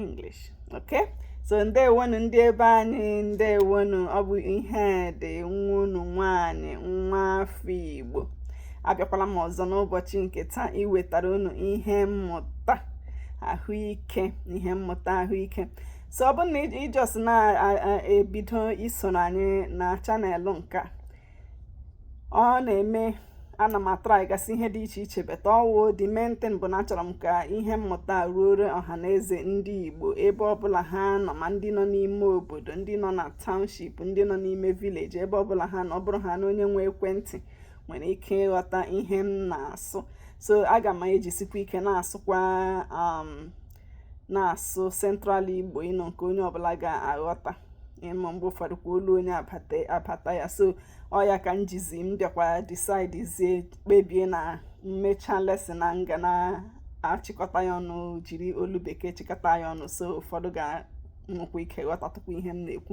English okay so ndewonu ndị ebe anyị ndewonu ọ bụ Ihedi nwa unu nwaanyị nwa afọ Igbo abịakwala m ọzọ n'ụbọchị nke taa iwetara unu ihe mmụta ahụike ihe mmụta ahụike so ọ bụrụ na ị just na-ebido isoro anyị na channel nke a ọ na-eme ana m atry gasị ihe dị iche iche but ọ wụ the main thing bụ na achọrọ m ka ihe mmụta ruore ọha na eze ndị Igbo ebe ọbụla ha nọ ma ndị nọ n'ime obodo ndị nọ na township ndị nọ n'ime village ebe ọbụla ha nọ ọ bụrụ ha na onye nwe ekwentị nwere ike ịghọta ihe m na-asụ so aga m ejisikwa ike na-asụkwa um, na-asụ Central Igbo you know nke onye ọbụla ga-aghọta ị ma mgbe ụfọdụ kwa olu onye abata ya so ọ ya ka m jizi m bịakwa decide zie kpebie na m mechaa lesson na m ga na-achịkọta ya ọnụ jiri olu bekee chịkọta ya ọnụ so ụfọdụ ga-enwekwa ike ghọtatụkwa ihe m na-ekwu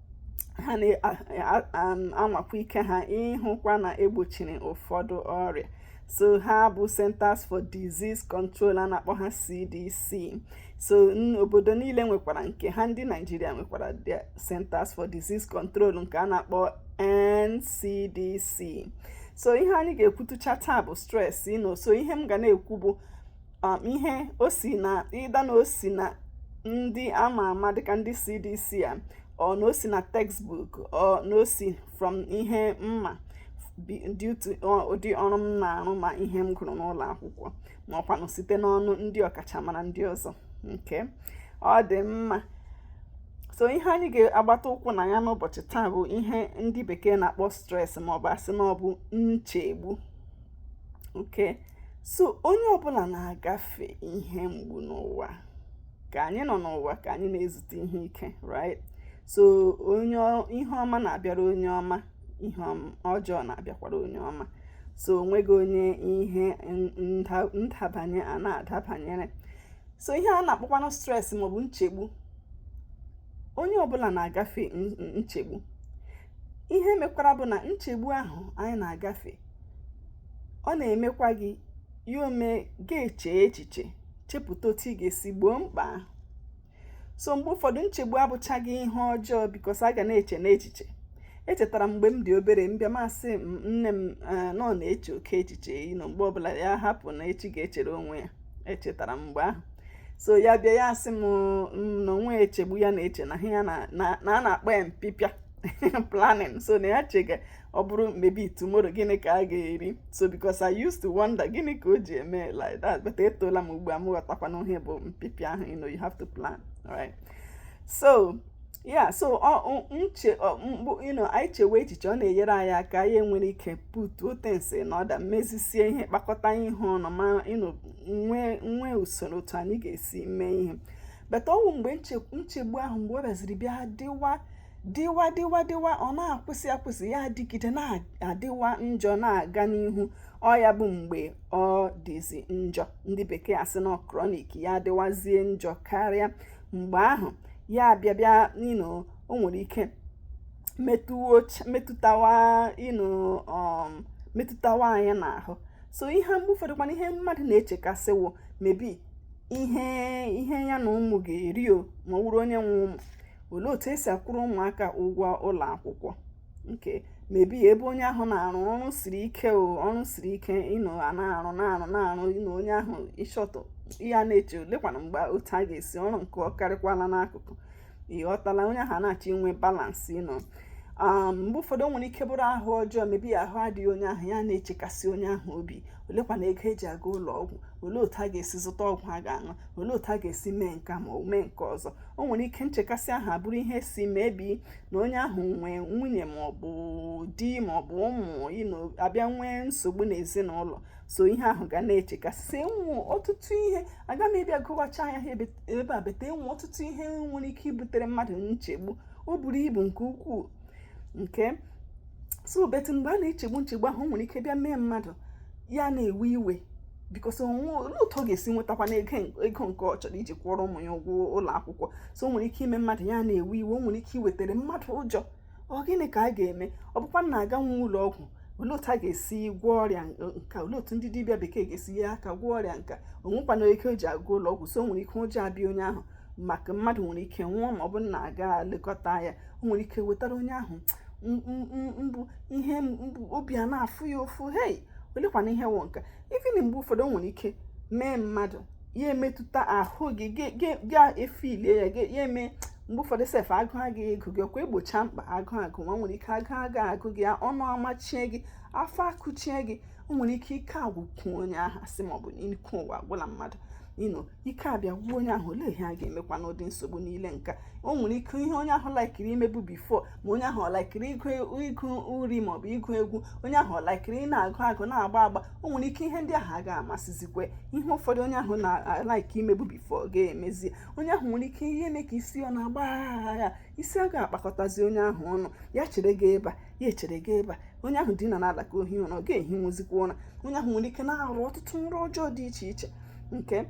ha na-anwakwa ike ha ịhụkwa na e gbochiri ụfọdụ ọrịa so ha bụ Centers for Disease Control a na-akpọ ha CDC so obodo niile nwekwara nke ha ndị Naijiria nwekwara the Centers for Disease Control nke a na-akpọ NCDC so ihe anyị ga-ekwutụcha taa bụ stress you know so ihe m ga na-ekwu bụ um, ihe o si na either na o si na ndị ama ama dịka ndị CDC a or na o si na textbook or na o si from ihe m ma due to ụdị ọrụ m na-arụ ma ihe m gụrụ n'ụlọ akwụkwọ ma ọkwanụ site n'ọnụ ndị ọkachamara ndị ọzọ okay ọ dị mma so ihe anyị ga-agbata ụkwụ na ya n'ụbọchị taa bụ ihe ndị bekee na-akpọ stress maọbụ a sị na ọ bụ nchegbu okay so onye ọbụla na-agafe ihe mgbu n'ụwa ka anyị nọ n'ụwa ka anyị na-ezute ihe ike right so ihe ọma na-abịara onye ọma ihe ọjọọ na-abịakwara onye ọma so o nweghị onye ihe ndabanye anaghị adabanyere so ihe a na-akpọkwanụ stress maọbụ nchegbu onye ọbụla na-agafe nchegbu ihe mekwara bụ na nchegbu ahụ anyị na-agafe ọ na-emekwa gị ya o mee gị echee echiche chepụta otu ị ga-esi gboo mkpa ahụ so mgbe ụfọdụ nchegbu abụchaghị ihe ọjọọ because a ga na-eche n'echiche echetara m mgbe m dị obere m bịa m asị nne m eh, na ọ na-eche oke echiche you know mgbe ọbụla ya hapụ na echi ga-echere onwe ya echetara m mgbe ahụ so ya bịa ya asị m na onwe echegbu ya na-eche na ya na a na-akpọ ya mpịpịa planning so na ya chega ọ bụrụ maybe tomorrow gịnị ka a ga-eri so because I used to wonder gịnị ka o ji eme like that but etoola m ugbu a m ghọtakwana ihe bụ mpịpịa ahụ you know you have to plan right so yeah so nchegbu you know anyị chewe echiche ọ na-enyere anyị aka anyị nwere ike putuo things na order mezisie ihe kpakọta ihe ọnụ ma nwee usoro otu anyị ga-esi mee ihe but ọ wụ mgbe nchegbu ahụ mgbe ọ bịaziri bịa dịwa dịwa dịwa dịwa ọ na-akwụsị akwụsị ya adịgide na-adịwa njọ na-aga n'ihu ọ ya bụ mgbe ọ dịzi njọ ndị bekee asị na chronic ya adịwazie njọ karịa mgbe ahụ ya abịa bịa you know o nwere ike metụtawa you know um metụtawa anyị n'ahụ so ihe mgbe ụfọdụ kwana ihe mmadụ na-echekasị wụ maybe ihe ihe ya na ụmụ ga-eri o ma ọ wụrụ onye nwe ụmụ olee otu esi akwụrụ ụmụaka ụgwọ ụlọ akwụkwọ nke maybe ebe onye ahụ na-arụ ọrụ siri ike o ọrụ siri ike you know a na-arụ na-arụ na-arụ you know onye ahụ ịchọtụ ya na-eche olekwana mgbe otu a ga-esi ọrụ nke ọ karịkwala n'akụkụ ị ghọtala onye ahụ na-achọ inwe balance you know um mgbe ụfọdụ o nwere ike bụrụ ahụ ọjọọ maybe ahụ adịghị onye ahụ ya na-echekasị onye ahụ obi olekwana ego e ji aga ụlọ ọgwụ olee otu a ga-esi zụta ọgwụ a ga-aṅụ olee otu a ga-esi mee nke ma ọ mee nke ọzọ o nwere ike nchekasị ahụ abụrụ ihe si maybe na onye ahụ nwee nwunye ma ọ bụ di ma ọ bụ ụmụ you know abịa nwee nsogbu n'ezinụlọ so ihe ahụ ga na-echekasị e nwe ọtụtụ ihe aga m ịbịa gụwacha ya ebe a but e nwe ọtụtụ ihe nwere ike ibutere mmadụ nchegbu o buru ibu nke ukwuu nke so but mgbe a na-echegbu nchegbu ahụ nwere ike bịa mee mmadụ ya na-ewe iwe because olee otu ọ ga-esi nwetakwana ego nke ọ chọrọ iji kwụọrọ ụmụ ya ụgwọ ụlọ akwụkwọ so o nwere ike ime mmadụ ya na-ewe iwe o nwere ike iwetara mmadụ ụjọ ọ gịnị ka a ga-eme ọ bụkwa na aga nwa ụlọ ọgwụ olee otu a ga-esi gwọọ ọrịa nka olee otu ndị dibịa bekee ga-esi nye aka gwọọ ọrịa nka o nwekwana ego o ji aga ụlọ ọgwụ so o nwere ike ụjọ abịa onye ahụ maka mmadụ nwere ike nwụọ ma ọ bụrụ na aga lekọta ya o nwere ike wetara onye ahụ mgbu ihe mgbu obi ana-afụ ya ụfụ hei olekwana ihe wụ nka even mgbe ụfọdụ o nwere ike mee mmadụ ya emetụta ahụ gị ga efilie ya ya eme mgbe ụfọdụ sef agụụ agị agụ gị ọkwa e gbochaa mkpa agụụ agụwa nwere ike agụụ agị agụ gị ọnụ amachie gị afọ akụchie gị o nwere ike ike agwụkwụ onye ahụ asị ma ọ bụ na ike ụwa agwụla mmadụ you know ike abịa gwuo onye ahụ olee ihe a ga-emekwa n'ụdị nsogbu niile nka o nwere ike ihe onye ahụ laikiri imebu before ma onye ahụ ọ laikiri ịgụ uri maọbụ ịgụ egwu onye ahụ ọ laikiri ị na-agụ agụ na-agba agba o nwere ike ihe ndị ahụ a ga-amasịzikwe ihe ụfọdụ onye ahụ na-alaiki imebu before ga-emezi onye ahụ nwere ike ihe eme ka isi ọ na-agba ya isi a ga-akpakọtazi onye ahụ ọnụ ya chere gaa ebe a ya echere gaa ebe a onye ahụ dina n'ala ka o hi ụra ọ ga-ehinwuzikwa ụra onye ahụ nwere ike na-arọ ọtụtụ nrọ ọjọọ dị iche iche okay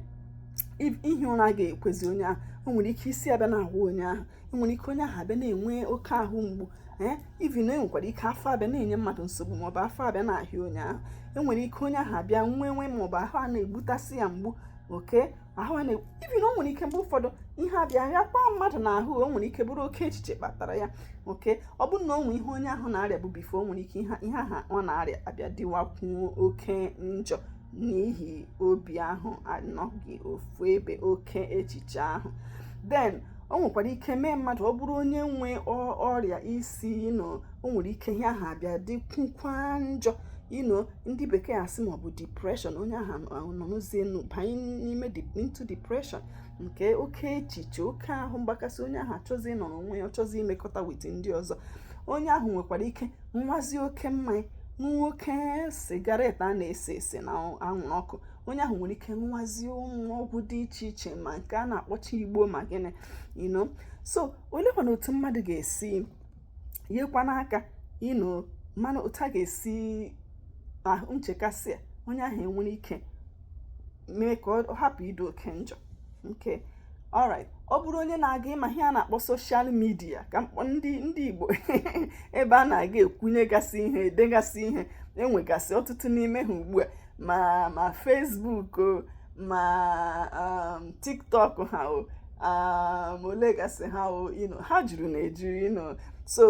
ihi ụra ga-ekwezi onye ahụ o nwere ike isi abịa na-awa onye ahụ o nwere ike onye ahụ abịa na-enwe oke ahụ mgbu ee even enwekwara ike afọ abịa na-enye mmadụ nsogbu maọbụ afọ abịa na-ahịa onye ahụ enwere ike onye ahụ abịa nwee nwe maọbụ ahụ a na-egbutasị ya mgbu okay ahụ a even o nwere ike mgbe ụfọdụ ihe abịa ya kpaa mmadụ n'ahụ o nwere ike bụrụ oke echiche kpatara ya okay ọ bụrụ na o nwee ihe onye ahụ na-arịabu before o nwere ike ihe ahụ ọ na-arịa abịa dịwakwuo oke njọ n'ihi obi ahụ anọghị ofu ebe oke echiche ahụ then o nwekwara ike mee mmadụ ọ bụrụ onye nwe ọrịa isi you know o nwere ike ihe ahụ abịa dịkwukwa njọ you know ndị bekee asị maọbụ depression onye ahụ nọrọzienụ banye n'ime into depression nke oke echiche oke ahụ mgbakasị onye ahụ achọzi ịnọrọ onwe ya ọ chọzi imekọta with ndị ọzọ onye ahụ nwekwara ike ṅụwazi oke mmanya ṅụwa oke cigarette a na-ese ese na anwụrụ ọkụ onye ahụ nwere ike ṅụwazi ụmụ ọgwụ dị iche iche ma nke a na-akpọcha igbo ma gịnị you know so olekwana otu mmadụ ga-esi yekwana aka you know mana otu a ga-esi ahụ nchekasị a onye ahụ enwere ike mee ka ọ hapụ ịdị oke njọ okay alright ọ bụrụ onye na-aga ịma ihe a na-akpọ social media ka ndị ndị Igbo ebe a na-aga ekwunyegasị ihe edegasị ihe enwegasị ọtụtụ n'ime ha ugbu a ma ma Facebook ma um, TikTok ha o um, olegasị ha o ha juru na eju you know so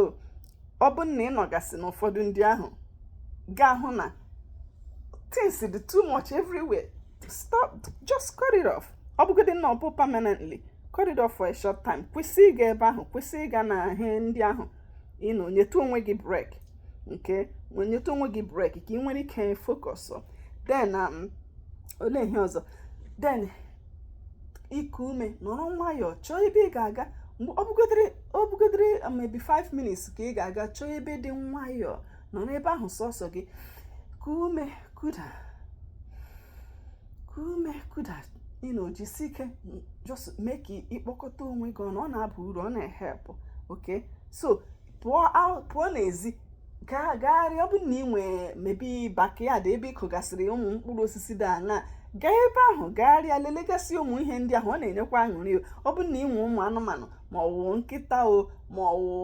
ọ bụ na ị nọgasị na ụfọdụ ndị ahụ ga-ahụ na things dị too much everywhere stop just cut it off ọ bụgodị na ọ bụ permanently cut it off for a short time kwụsị ịga ebe ahụ kwụsị ịga na ihe ndị ahụ you know nyetụ onwe gị break okay nyetụ onwe gị break ka ị nwere ike focus then um, olee ihe ọzọ then iku ume nọrọ nwayọọ chọọ ebe ị ga-aga ọ bụgodịrị ọ bụgodịrị um, maybe 5 minutes ka ị ga-aga chọọ ebe dị nwayọọ nọrọ ebe ahụ sọsọ gị kuo ume kuda kuo ume kuda you know jisi ike just mee ka ị kpọkọta onwe gị ọnụ ọ na-aba uru ọ na-ehelp okay so pụọ n'ezi gagharịa ọ bụrụ na ị nwee maybe backyard ebe ị kụgasịrị ụmụ mkpụrụ osisi dị aṅaa gaa ebe ahụ gagharịa lelegasị ụmụ ihe ndị ahụ ọ na-enyekwa aṅụrị ọ bụrụ na ị nwee ụmụ anụmanụ ma ọ wụ nkịta o ma ọ wụ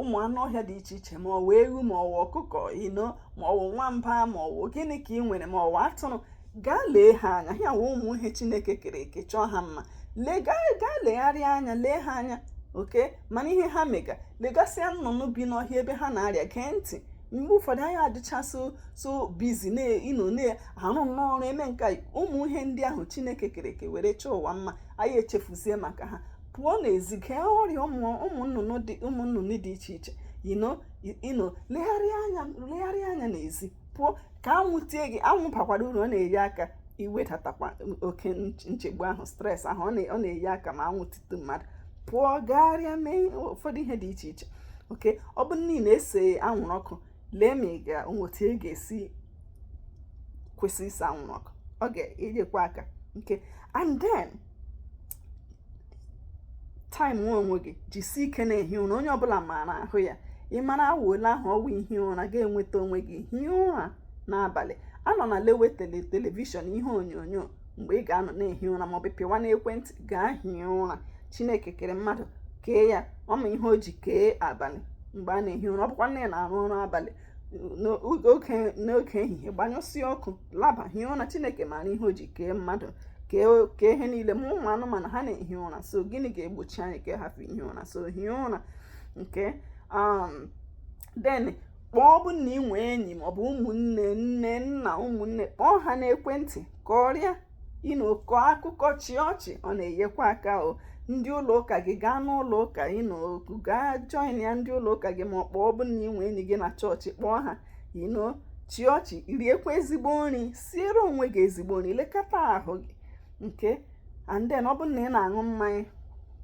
ụmụ anụ ọhịa dị iche iche ma ọ wụ ewu ma ọ wụ ọkụkọ you know ma ọ wụ nwamba ma ọ wụ gịnị ka ị nwere ma ọ wụ atụrụ gaa lee ha anya ha wụ ụmụ ihe chineke kere eke chọọ ha mma lee gaa gaa legharịa anya lee ha anya okay mana ihe ha mega legasịa nnụnụ bi n'ọhịa ebe ha na-arịa gee ntị mgbe ụfọdụ anyị adịcha so so busy na you know na-arụ nnọọ ọrụ eme nke a ụmụ ihe ndị ahụ chineke kere eke were chọọ ụwa mma anyị echefuzie maka ha pụọ n'ezi gee ụrịa ụmụ nnụnụ dị ụmụ nnụnụ dị iche iche you know you know legharịa anya legharịa anya n'ezi pụọ ka anwụ tie gị anwụ bakwara uru ọ na-enye aka iwedatakwa oke nchegbu ahụ stress ahụ ọ na-enye aka ma anwụ titu mmadụ pụọ gagharịa mee ụfọdụ ihe dị iche iche okay ọ bụ na ị na-ese anwụrụ ọkụ lee ma ị ga otu ị ga-esi kwụsị ise anwụrụ ọkụ ọ ga-enyekwa aka okay and then time nwa onwe gị jisie ike na-ehi ụra onye ọbụla maara ahụ ya ị mara awa ole ahụ ọ wụ ị hie ụra ị ga-enweta onwe gị hie ụra n'abalị anọna lewe tele television ihe onyonyo mgbe ị ga-anọ na-ehi ụra maọbụ pịwa n'ekwentị gaa hie ụra chineke kere mmadụ kee ya ọ ma ihe o ji kee abalị mgbe a na-ehi ụra ọ bụkwanụ na ị na-arụ ọrụ abalị n'oge ehihie gbanyụsịa ọkụ laba hie ụra chineke maara ihe o ji kee mmadụ kee ihe niile ma ụmụ anụmanụ ha na-ehi ụra so gịnị ga-egbochi anyị ka hapụ ihi ụra so hie ụra okay um, then kpọọ ọ bụ na ị nwee enyi maọbụ ụmụnne nne nna ụmụnne kpọọ ha n'ekwentị kọrịa you know kọọ akụkọ chịa ọchị ọ na-enyekwa aka o ndị ụlọ ụka gị gaa n'ụlọ ụka you know okay gaa joinịa ndị ụlọ ụka gị maọbụ kpọọ ọ bụ na ị nwee enyi gị na chọọchị kpọọ ha you know chịa ọchị riekwa ezigbo nri siere onwe gị ezigbo nri lekọta ahụ gị okay and then ọ bụrụ na ị na-aṅụ mmanya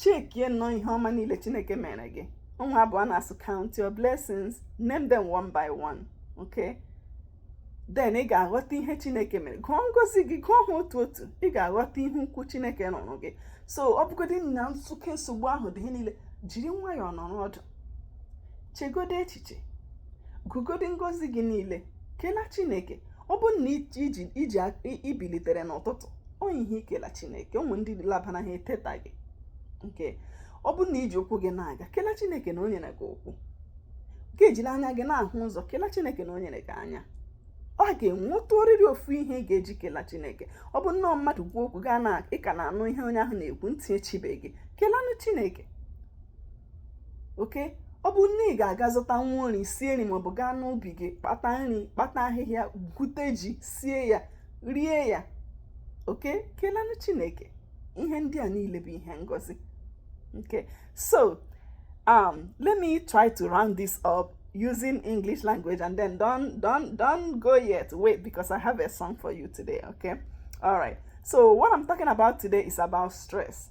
checkie nnọọ ihe ọma niile chineke mere gị ọ wụ abụ a na-asị count your blessings name them one by one okay then ị ga-aghọta ihe chineke mere gụọ ngozi gị gụọ ha otu otu ị ga-aghọta ihe ukwu chineke rụụrụ gị so ọ bụgodị na nso oke nsogbu ahụ dị niile jiri nwayọọ nọrọ ọdụ chegodo echiche gụgodo ngozi gị niile kelee chineke ọ bụrụ na i ji i bilitere n'ụtụtụ o nwe ihe i kela chineke o nwe ndị labana ha etetaghị okay ọ bụrụ na i ji ụkwụ gị na-aga kela chineke na o nyere gị ụkwụ gị ejiri anya gị na-ahụ ụzọ kela chineke na o nyere gị anya ọ ga-enwetarịrị ofu ihe ị ga-eji kela chineke ọ bụ na mmadụ kwuo okwu gaa na ị ka na-anụ ihe onye ahụ na-ekwu ntị echibe gị kelanụ chineke okay ọ bụ na ị ga-aga zụta nwa nri sie nri maọbụ gaa n'ubi gị kpata nri kpata ahịhịa gwute ji sie ya rie ya oke kelanụ chineke ihe ndị a niile bụ ihe ngozi okay so um let me try to round this up using english language and then don't don't don't go yet wait because i have a song for you today okay all right so what i'm talking about today is about stress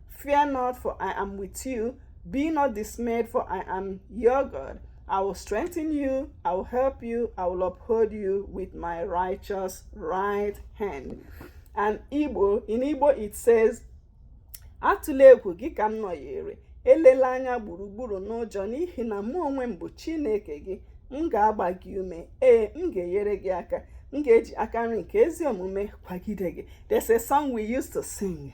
Fear not, for I am with you. Be not dismayed, for I am your God. I will strengthen you, I will help you, I will uphold you with my righteous right hand. And in Igbo it says, Atụla egwu gị ka m nọnyere, elela anya gburugburu n'ụjọ n'ihi na mụ onwe m bụ Chineke gị, m ga-agba gị ume, ee, m ga-enyere gị aka, m ga-eji aka nri nke ezi omume kwagide gị. There's a song we used to sing.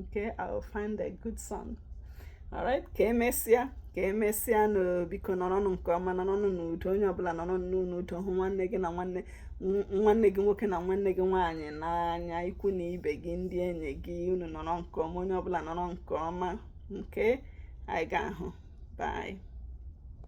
okay I will find a good song alright ka emesịa ka emesịanụ biko nọrọnụ nke ọma nọrọnụ n'udo onye ọbụla nọrọ n'udo hụ nwanne gị na nwanne nwanne gị nwoke na nwanne gị nwaanyị n'anya ikwu na ibe gị ndị enyi gị unu nọrọ nke ọma onye ọbụla nọrọ nke ọma okay anyị ga-ahụ bye